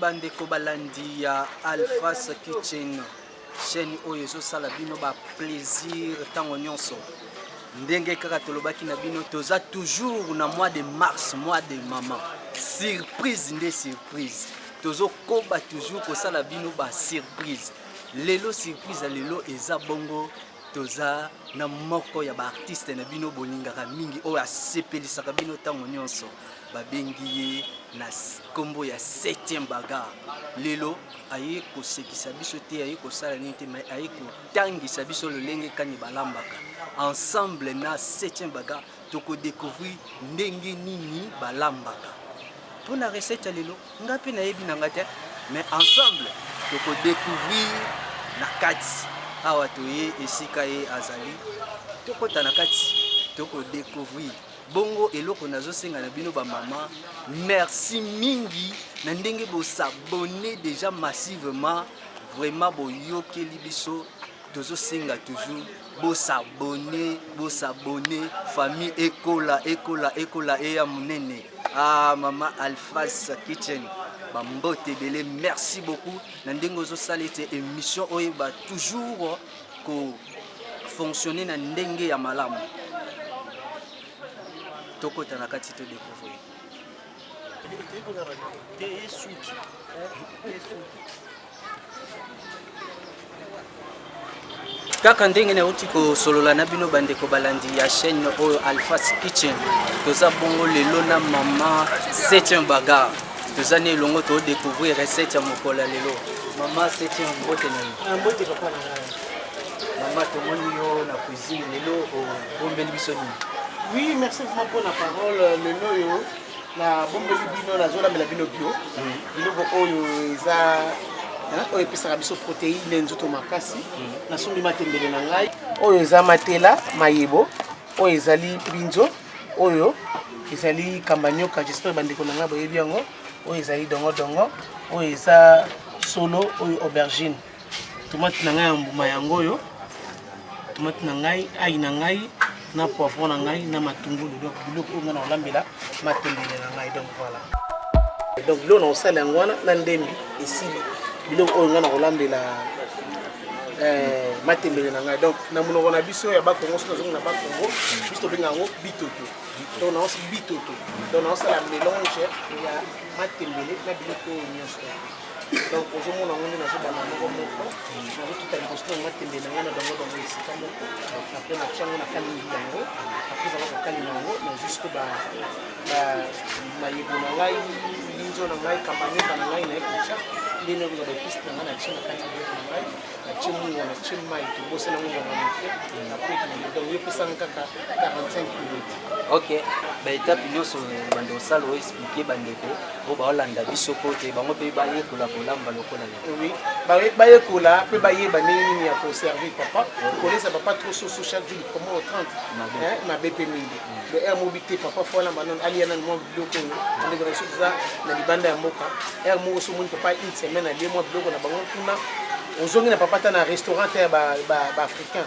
bandeko balandi ya alphas kitchen chaîne oyo ezosala bino ba plaisir ntango nyonso ndenge kaka tolobaki na bino toza toujours na mois de mars mois de maman surprise nde surprise tozokoba toujours kosala bino ba surprise lelo surprise ya lelo eza bongo toza na moko ya baartiste na bino bolingaka mingi oyo asepelisaka bino ntango nyonso babengi ye na nkombo ya 7e baga lelo aye kosekisa biso te aye kosala nini te mai aye kotangisa biso lolenge kani balambaka ensemble na 7e baga tokodecouvrir ndenge nini balambaka mpo na recette ya lelo Nga pe nayebi na nga te mais ensemble toko découvrir na kati awa toye esika ye azali tokota na kati toko découvrir bongo eloko nazosenga na bino bamama merci mingi na ndenge bosabone déjà massivement vraiment boyokeli biso tozosenga toujours bosabone bosabone famille ekola ekola ekola eya monene ah, mama alphas kitchen bambote ebele merci beaucoup na ndenge ozosala ete émission oyeba toujours kofonctionne na ndenge ya malamu tokota na kati to découvrir te esuki kaka ndenge nauti kosolola na bino bandeko balandi ya chaîne oyo alphas kitchen toza bongo lelo na mama septième bagar toza na elongo todécouvrir recette ya mokolo ya lelo mama septième mbote na yo ah, mbote papa na ngai mama tomoni yo na cuisine lelo obombeli biso nini oui merci vraiment mpo na parole lelo oyo nabombeli bino nazolambela bino bio biloko oyo eza oyo epesaka biso proteine ya nzoto makasi nasombi matembele na ngai oyo eza matela mayebo oyo ezali binzo oyo ezali kambanyoka jespere bandeko na ngai boyebi yango oyo ezali dongodongo oyo eza solo oyo aubergine tomate na ngai ya mbuma yango oyo tomate na ngai ai na ngai na poivron na ngai na matungulu donc biloko oyo ngai na kolambela matembele na ngai donc voilà donc biloko na kosala yango wana na ndembi esili biloko oyo ngai na kolambela eh, matembele na ngai donc na monoko na biso ya bakongo soki nazongi na bakongo biso tobenga yango bitoto donc naosi bitoto donc naosala mélange ya matembele na biloko oyo nyonso donc ozomona yango nde nazobanda moko moko nazotuta liboso na nga tembe na ngai na bango bango esika moko apres natya yango nakalingi yango apres ezala kokalinga yango na juske mayebo na ngai linzo na ngai kamanyeba na ngai naye kotya nde nde kozala episte na ngai natye na kati ya biloko na ngai natye mungo natye mai tobosana mungo na moke apres ekende donc yo pesanga kaka 45 minutes ok baetape nyonso bande osala oexplike bandeko po baolanda biso po te bango mpe bayekola kolamba lokola oui bayekola mpe bayeba ndenge nini ya koservir papa kolesa papa trop soso chaque jour likoma o 30 mabe mpe mingi mm. le air mobi te papa fo alamba nano aliya nano mwa biloko oyo ndeko na biso toza na libanda ya mboka air moko so omoni papa une semaine alie mwa biloko na bango kuna ozongi na papa ta na restaurant te ya baafricain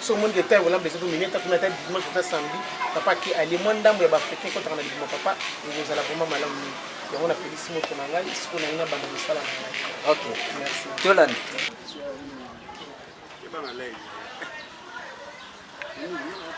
so omoni ke ntango olamba ezokomi ne tatuna ata dimanche ata samedi papa ke alie mwa ndambo ya baafricain ekotaka na libuma papa ekozala vraimen malamu mingi yango napelisi moto na ngai siko na ngai na banda mosala na ngai ok merci tolanda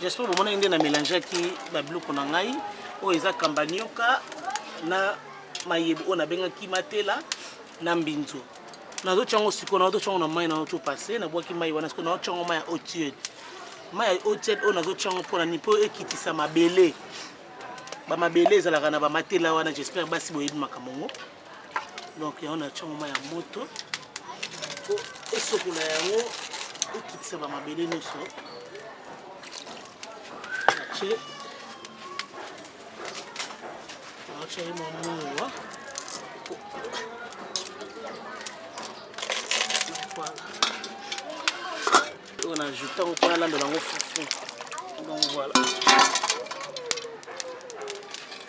J'espère bomonaki nde na mélangeaki babiloko na ngai oyo eza kambanioka na mayebo oyo nabengaki matela na mbinzo nazotya yango sikoyo nazotya yango na mai naotyo passe nabwaki mai wana sikoyo naotya yango mai ya otiede mai ya otiede oyo nazotya yango mpo na nini mpo ekitisa mabele bamabele ezalaka na bamatela wana j'espère basi boyebi makambo yango donc yango na tia moma ya moto po esokola yango ekitisa bamabele nyonso natie natia ye mamunga oyo na ajouta ngo mpo nalandola yango fufu donc voilà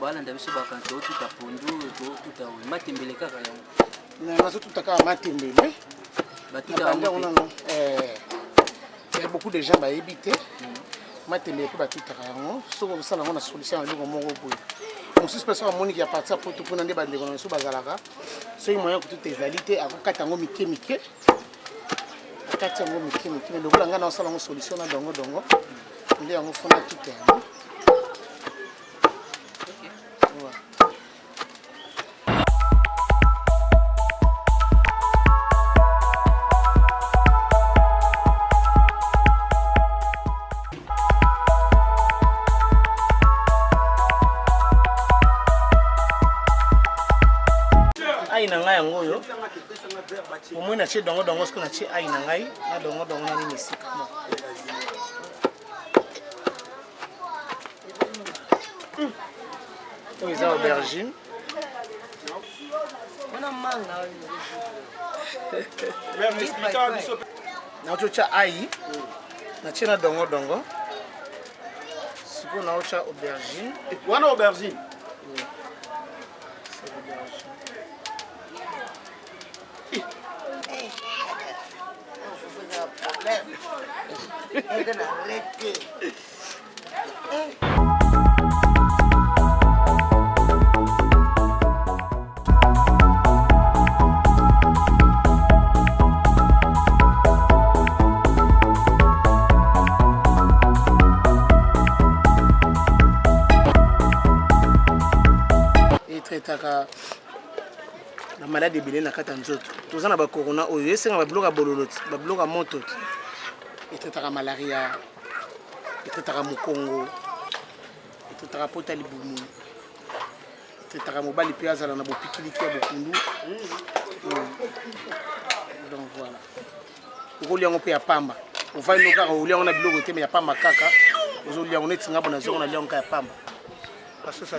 balanda biso bakanto otuta pondu otuta oyo matembele kaka yango nazotuta kaka matembele batuta yango ya beaucoup de gens bayebi te matembele mpe batutaka yango soki okosala yango na solution ya eloko moko boye mosusu mpe soki amoniki ya parti ya poto mpona nde bandeko na biso bazalaka soki moyen kotuta ezali te akokata yango mike mike akati yango mike mike me lokola ngai naosala yango solution na dongo dongo nde yango fona tuta yango omoi natie dongo dongo soki natie ai na ngai na dongo dongo na nini esika oyo eza aubergine naotya ai natie na dongo dongo sikoyo naotya aubergine wana aubergine traitaka na maladi ebele na kati ya nzoto toza na bakorona oyo esengaka babiloko ya bololo ti babiloko ya moto ti etraitaka malaria etotaka mokongo etotaka pota libumu etotaka mobali mpe azala na bopikiliki ya bokundu hmm. donc voilà okolia yango mpe ya pamba ovandi no kaka olia yango na biloko te me ya pamba kaka ozolia yango neti nga bona zongo nalia yango kaka ya pamba basosa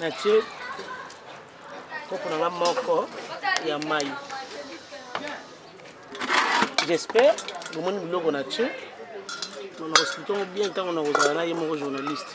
natie kopo na nga moko ya mai j'espère bomoni biloko na tie na koexplike yango bien ntango na kozala na ye moko journaliste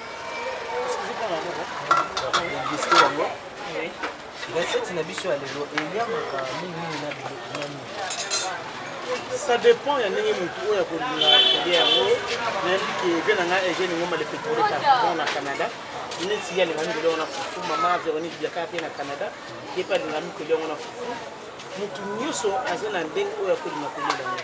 ça dépend ya ndenge motu oyo akolinga kolia yango nayebi ke vie na ngai egene ngomba le petole carton na canada neti ye alingami kolia wana fufu mama véronique biaka mpe na canada ye mpe alingami kolia wana fufu motu nyonso aza na ndenge oyo akolinga kolia yango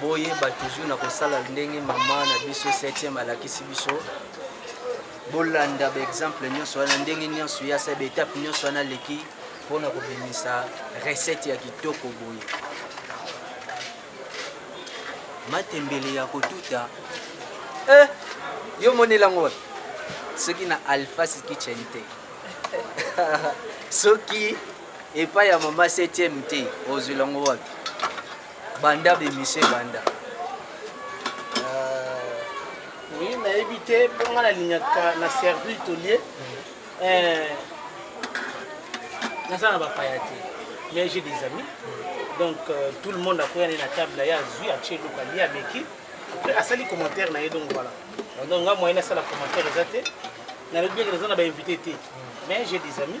boyeba toujours na kosala ndenge mama na biso 7e alakisi biso bolanda baexemple nyonso wana ndenge nyonso ya sa baetape nyonso wana aleki mpo na kobimisa recette ya kitoko boye matembele ya kotuta eh, yo monela yango wapi soki na alphas kitchen te soki epai ya mama 7e te ozwela yango wapi banda ba emission ebanda euh, oui nayebi te mpo ngai nalingaka na servir tolie euh, naza na bapaya te mais j'ai des amis donc euh, tout le monde akoya nde na table na ye azwi atie eloko alie ameki après asali commentaire na ye donc voilà donc ngai moyen asala commentaire eza te nalobi eke naza na bainvité te mais j'ai des amis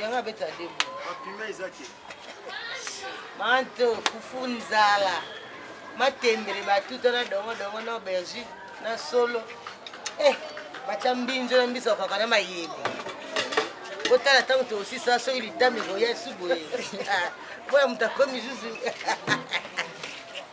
yango abeta debo bapima eza te manto fufu nzala matembele batuta na dongodongo na aubergine na solo eh, batya mbinzo na mbiso kaka na mayebe botala ntango tosisa soki litami koya esu boye ah, mpo ya moto akomi zuzu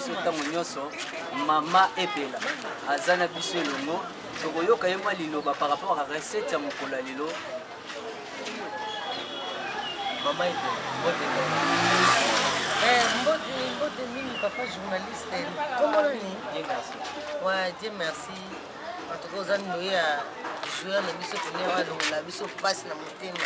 biso ntango nyonso mama epela aza na biso elongo tokoyoka ye mwa liloba par rapport à recette ya mokolo ya lelo mama epela mbote eh, mbote mbote mingi papa journaliste komona nini wa dieu merci en tout cas oza ndoye ya joueur na biso tenir alongola biso mpasi na motema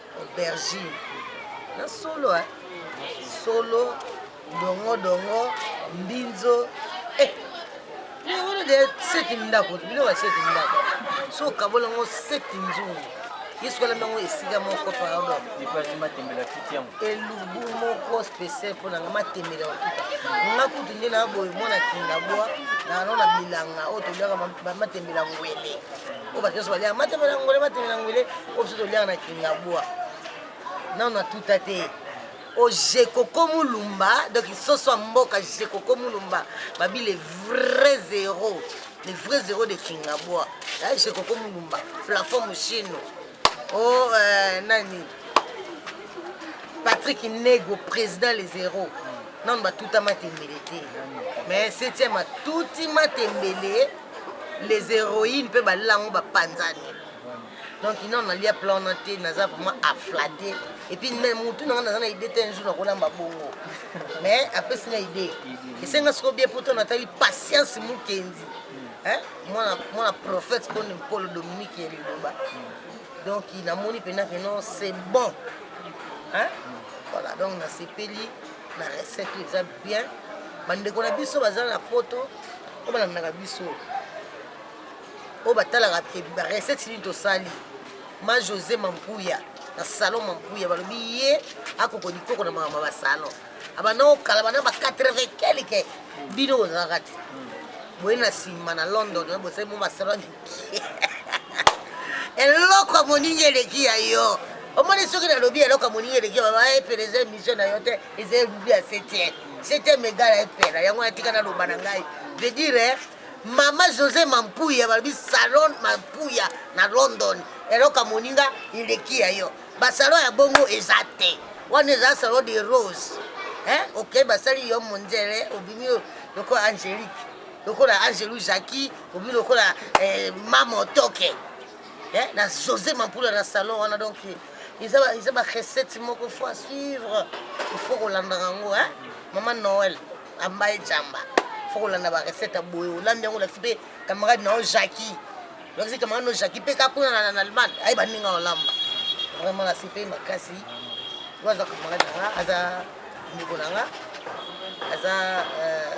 aubergine na solo eh? solo dongo dongo mbinzo eh. wana de seti ndako biloko ya seti ndako so okabola yango seti nzungu yesu alamba yango esika moko pardon elubu moko spécial mpo nanga matembela okuta nga kutu nde na boye mwana kindabwa nano na bilanga oyo tolyaka matembela ngwele oyo bato nyonso baliaka mateme na ngwele mateme na ngwele oyo biso toliaka na kingabwa nano na tuta te ojekoko mulumba donc soso ya mboka jekoko mulumba babi le vrai zero le vrai zero de kingabwa ya jekoko mulumba plafond moshino o oh, euh, nani patrick nego président le zero nano batuta matembele te mais septième atuti matembele les héroïnes mpe balela yango bapanzani donc ino nalia plan na te naza vraiment aflate epuis motu nanga naza na idée te un jour nakolamba bongo mais apesi na idée esenga soko bie poto natali patience mokenzi mwana prophète koni mpolo dominique ya liloba donc namoni mpenza keno c'est bon hein? voilà donc nasepeli na recette oyo eza bien bandeko na biso baza na poto oyo balandaka biso oyo batalaka barecette nini tosali ma josé mampuya na salon mampuya balobi ye akoko likoko na mama basalon abanda kokala bana ba 80 kelike bino ozalaka te boye na nsima na london bosali mo basalon eloko ya moninga eleki ya yo omoni soki nalobi eloko ya moninga eleki epela eza emisio na yo te eza elubi ya septième septième egala epela yango natika naloba na ngai je dire mama josé mampuya balobi salon mampuya na london eloko ya moninga eleki ya yo basalon ya bongo eza te wana eza salon de rose eh? okei okay, basali yo monzele obimi lokola angélique lokola angelu jacqui obi lokola eh, mama otoke eh, na josé mampula na salon wana donc eza barecette moko fo a suivre ifo kolandaka yango eh? mama noel ambaye jamba fo kolanda barecette ya boye olambi yango olakisi mpe camarade na yo jacki olakisi camarade na yo jacki mpe kakuna na allemagne aye baninga olamba vraiment nasepeli makasi oyo aza camarade na nga aza ndeko na nga aza euh,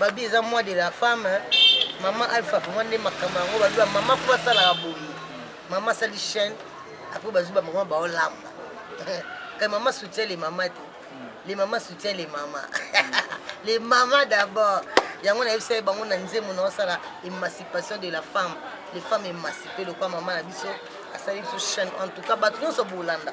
babi eza moi de la femme mama alpha vraiment nde makambo yango babi mama mpo asalaka boye mama asali chaîne apres bazwi bamama baolamba kai mama soutien le mama te le mama soutien le mama le mama d'abord yango nayebisa ye bango na nzembo na osala émancipation de la femme les femmes émancipe lokwa mama na biso asali biso chaîne en tout cas bato nyonso bolanda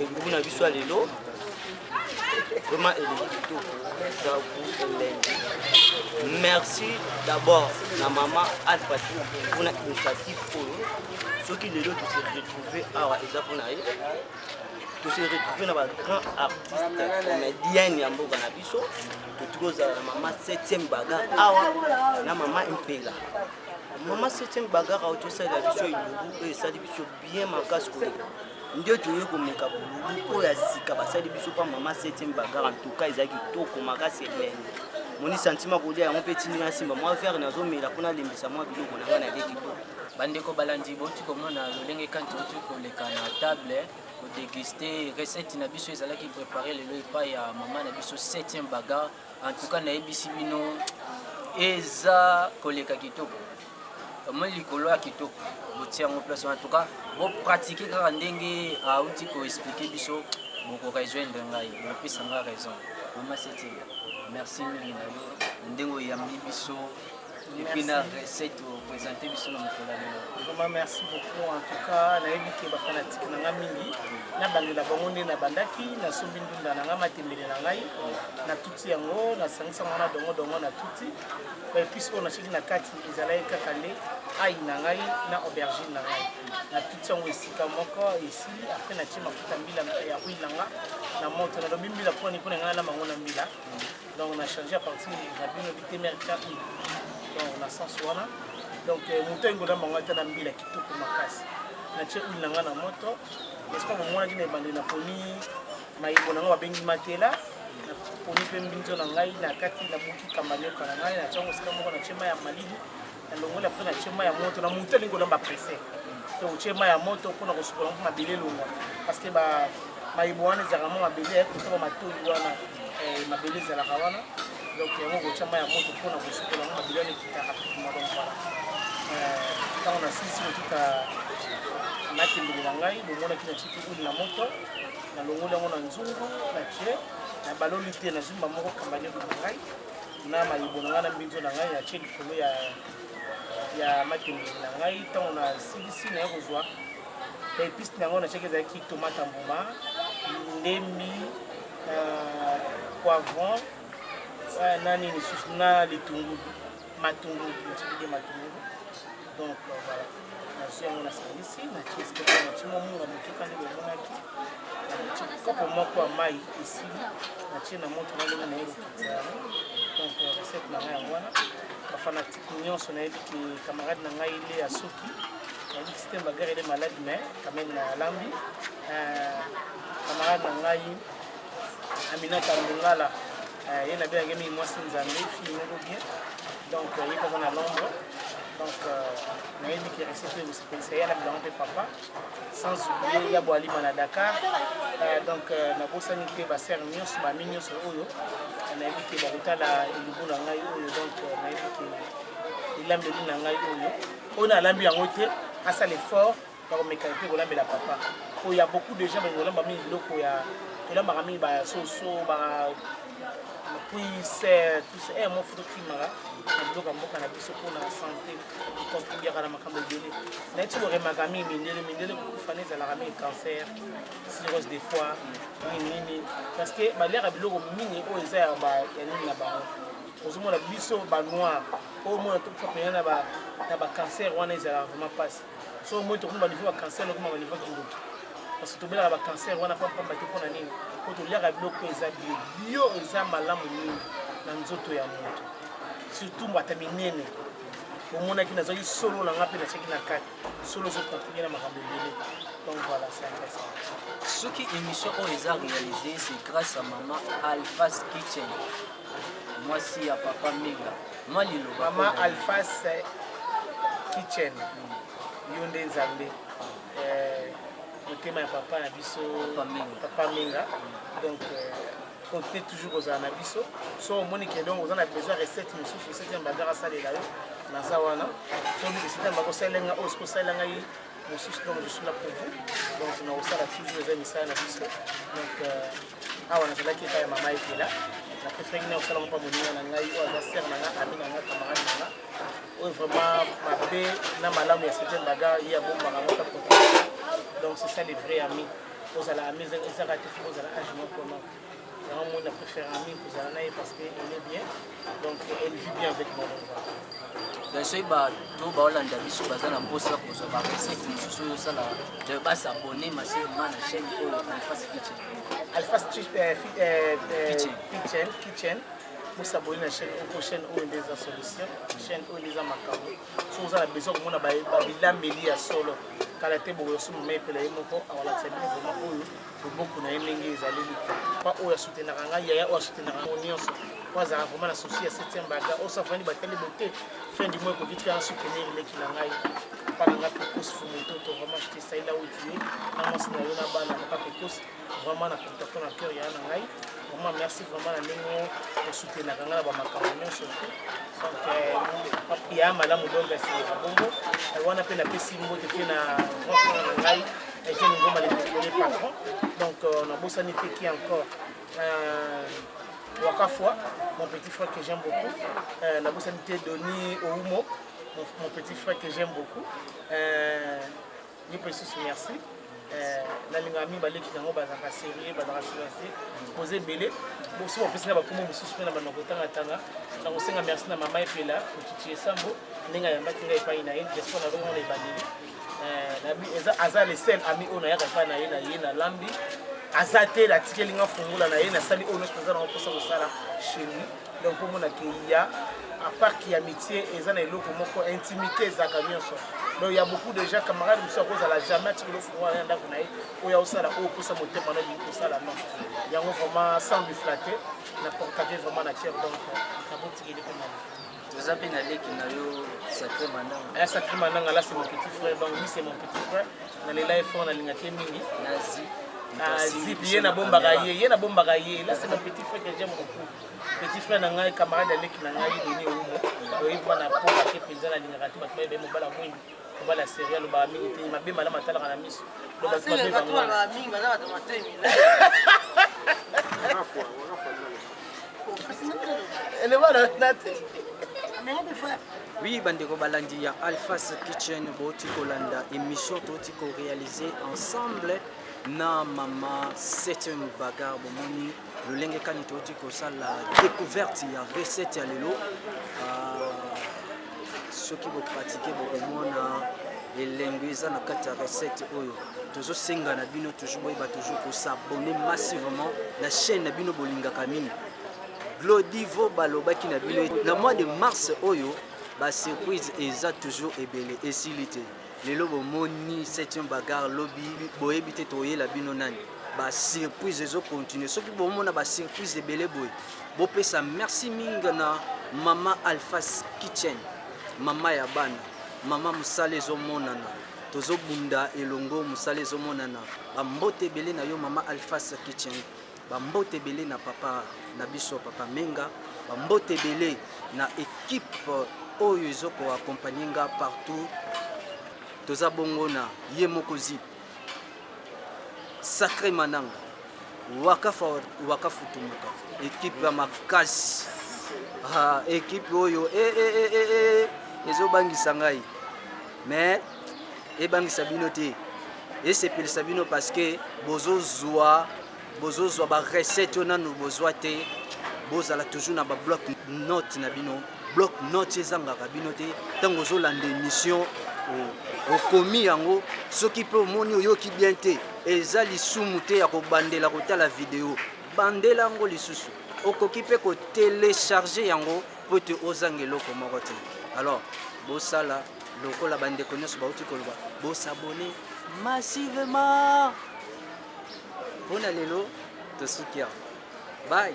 elubu na biso ya lelo vraiment elingi kitoko eza gout elengi merci d'abord na mama alfati mpona initiative oyo soki lelo tose retrouve awa eza mpona ye tose retrouve na bagrand artiste comedienne ya mboka na biso totuki kozala na mama 7e bagar awa na mama mpela mama 7e bagar awa tosalela biso elubu oyo esali biso bien makasi koleka nde toye komeka bolobi oyo ya sika basali biso mpa mama 7e bagara ntuka eza kitoko makasi elengi moni santima kolia yango mpe etindi nga nsimba mwa vere nazomela mpo nalembisa mwa biloko na ngai na leki to bandeko balandi boti komona lolenge kanti oti koleka na table kodeguste recette na biso ezalaki prépare lelo epai ya mama na biso 7e bagar en tout cas nayebisi bino eza koleka kitoko omoni likolo ya kitoko botia yango place wana tuka bopratike kaka ndenge auti koexplike biso bokorejoindre ngai bopesa ngai raison mama setinga merci mingi na yo na ndenge oyambi biso epuis na recette opresente biso na mokolo lelo vraiment merci beaucoup en tout cas nayebi ke bafanatike na ngai mingi nabandela bango nde nabandaki nasombi ndunda na ngai matembele na ngai na ti yango nasangisa yango na dongo dongo na tuti baepice oyo natyaki na kati ezalaki kaka nde ai na ngai na aubergine na ngai na tuti yango esika moko esili apres natye mafuta mbila ya huile na nga na moto nalobi mbila mpona nipona ngai na bango na mbila donc na change à partir na bino bitemerika donc na sens wana donc euh, moto engola bango ata na mbila kitoko makasi natye huile na ngai na moto esika momonaki na ebandeli naponi mayebo na ngai babengi matela naponi mpe mbinzo na ngai na kati na buki kamba nioka na ngai natya yango esika moko na tyema ya malili nalongoli apre na tyema ya moto na moto alingi kolamba prese to tyema ya moto mpona kosukola mpo mabele elongwa parceke mayebo wana ezalaka mwa mabele ya kotaba matoi wana eh, mabele ezalaka wana donc yango kotya mai ya moto mpona kosukola yango mabele wana ekita rapidement donc voilà ntango nasilisi kotika makendelo na ngai bomonaki na tiki uli na moto nalongoli yango na nzungu na tie na baloli te na zumba moko kambani na ngai na mayibo na ngai na mbinzo na ngai natie likolo ya ya matembele na ngai ntango na silisi na ye kozwa baepise na yango natiaki ezalaki tomate mbuma ndembi euh, poivron euh, na nini lisusu na litungulu matungulu natiaki nde matungulu donc euh, voilà nazwi yango na salisi nacieskenaci momunga motuka nde bomonaki naci kopo moko ya mai esili natie na moto nalongi na ye lokiti yango donc euh, recette na ngai yango wana bafanatike nyonso nayebi ke camarade na ngai le ya soki nayebi site bagare ele malade mais quand même na lambi euh, camarade na ngai aminata lungala Euh, ye na biyangemi ye mwasi nzambe fille moko bien donc euh, ye mpe aza na londres donc euh, nayebi ke recette ekosepelisa ye na bilango mpe papa sans oublie ya boalima na dakar donc nabosani mpe basere nyonso bami nyonso oyo nayebi ke bakotala elubu na ngai oyo donc nayebi ke elambeli na ngai oyo oyo nalambi yango te asala effort bakomeka mpe kolambela papa oyo ya beaucoup de gens bakolamba mingi biloko ya tolambaka mingi basoso bapuise tuse e mo foto kimaka na biloko ya mboka na biso mpona sante contribuaka na makambo ebele naye ti koremaka mingi mindele mindele kokufa na ezalaka mingi cancer cirrhose de foie nini nini parce que baliaka biloko mingi oyo eza ya nini na bango ozomona biso banoir oyo mona tokufa mpena na bacancer wana ezalaka vraiment mpasi so moi tokoma baniveau ya cancer lokoma baniveau ya kindoki parce que tobelaka bacancer wana mpo mpamba te mpo na nini mpo toliaka biloko eza bio bio eza malamu mingi na nzoto ya moto surtout mbata minene omonaki nazwaki solo na nga mpe natiaki na kati solo ezokontinue na makambo ebele donc voilà c'est intéressant soki émission oyo eza réalisé c'est grâce à mama alphas kitchen mwasi ya papa minga mwa liloba mama alphas kitchen yo nde nzambe eh, motema ya papa na biso papa minga donc euh, continue toujours kozala na biso so omoni ke donc oza na besoin recette mosusu recette ya mbagara asalela yo naza wana soki recette ya mbagara osalela nga oyo soki osalela ngai mosusu donc je suis là pour vous donc nakosala toujours eza misala na biso donc euh, awa nazalaki epai ya mama ekela na preferaki na kosala moko moninga na ngai oyo aza sere na nga ami na nga camarade na nga oyo vraiment mabe na malamu ya certain baga ye abombaka ngo ta donc c'est ça le vrai ami ozala ami ezaka te fo ozala age moko non Yango moni na préfère ami kozala na ye parce que elle est bien donc elle vit bien avec moi donc soki bato baolanda biso baza na mposa kozwa barecette mosusu oyo osala donc basabone masilema na chaîne oyo alphas kitchen alphas euh, euh, euh, kitchen bosabone na chaîne oyo po chaîne oyo nde eza solution chaîne oyo nde eza makambo soki oza na besoin komona babilambeli ya solo kala te bokoyoso mama epela ye moko awalakisa bino vraimen oyo loboko na ye ndenge ezaleli pa oyo asutenaka ngai yaya oyo asutenaka yango nyonso po azalaka vraimen na souci ya septième baga oyo safani batali bote fin du mois ekoki tika soutenir leki na ngai papa na ngai pekos fumototo vraimen jete saila otue na mwasi na yo na bana papa pekos vraimen na kontakto na cœur yaya na ngai vraiment merci vraiment na ndenge osutenaka ngai na bamakambo nyonso donc euh, ya malamu dongasebongo wana mpe napesi mbote mpe na grand frère na ngai Eugène Ngoma le désolé patron. Donc euh, on a bossé qui encore euh, Wakafwa, mon petit frère que j'aime beaucoup. Euh, la bossé Denis Oumo, mon, mon, petit frère que j'aime beaucoup. Euh, Ni Pessus, merci. Euh, nalinga mibale ki yango bazalaka serie bazalaka silence boza ebele bosi bapesi na bakomo mosusu mpe na bana kotangatanga na kosenga merci na mama epela mochichi esambo ndenge ayambaki ngai epai na ye diaspora na longo na ebandeli eh, aza le seul ami oyo nayaka epai na ye na ye na lambi aza te natikeli nga fungola na ye nasali oyo nyonso naza nango mposa kosala chez lui donc omona ke ya apart ki amitié eza na eloko moko intimité ezalaka nyonso donc ya beaucoup de gens camarade mosusu akozala jamais atikeli ofungwa ya ndako na ye oyo aosala oyo opesa motema na olingi kosala non yango vraiment sans biflate na portage vraiment na tiere donc nabotikeli mpe mama toza mpe na leki na yo sacré mananga aya sacré mananga là c'est mon petit frère donc lui c'est mon petit frère nalela ye fort nalingaki ye mingi nazi azip ye nabombaka ye ye nabombaka ye là c'est mon petit frère que j'aime beaucoup petit frère na ngai camarade ya leki na ngai deni oumo oyebi mwana po ake mpenza nalingaka te bato bayebaye mobala mwingi mobali ya serie alobaka mingi te mabe malamu atalaka na miso oui bandeko balandi ya alphas kitchen bouti kolanda émission touti koréalise ensemble na mama 7 bagar bomoni lolenge kani touti kosala découverte ya recette ya lelo ah, soki bopratike bokomona elengo eza na kati ya recette oyo tozosenga na bino toujours boyeba toujours kosabone massivement na chaîne na bino bolingaka mingi glodivo balobaki na bino na mois de mars oyo basurprise eza toujours ebele esili te lelo bomoni septième bagarre lobi boyebi te toyela bino nani ba surprise ezo continuer soki bomona ba surprise ebele boye bopesa merci mingi na mama alphas kitchen mama ya bana mama mosala ezomonana tozobunda elongo mosala ezomonana bambote ebele na yo mama alphas kitchen Ba mbote ebele na papa na biso papa Menga, ba mbote ebele na equipe oyo ezo ko accompagner nga partout. Toza bongo na ye moko zip. Sacré Mananga, Wakafa Wakafutumuka, equipe ya makasi. Ah, equipe oyo eh eh eh eh, eh. ezobangisa ngai mais ebangisa bino te esepelisa bino parce que bozozwa bozozwa ba recette oyo nanu bozwa te bozala toujours na ba bloc note na bino bloc note ezangaka bino te ntango ozolanda émission okomi yango soki mpe omoni oyoki bien te eza lisumu te ya kobandela kotala video bandela yango lisusu okoki mpe kotelecharge yango mpo ete ozanga eloko moko te alors bosala lokola bandeko nyonso bauti koloba bosabone massivement mpo na lelo tosuki awa bai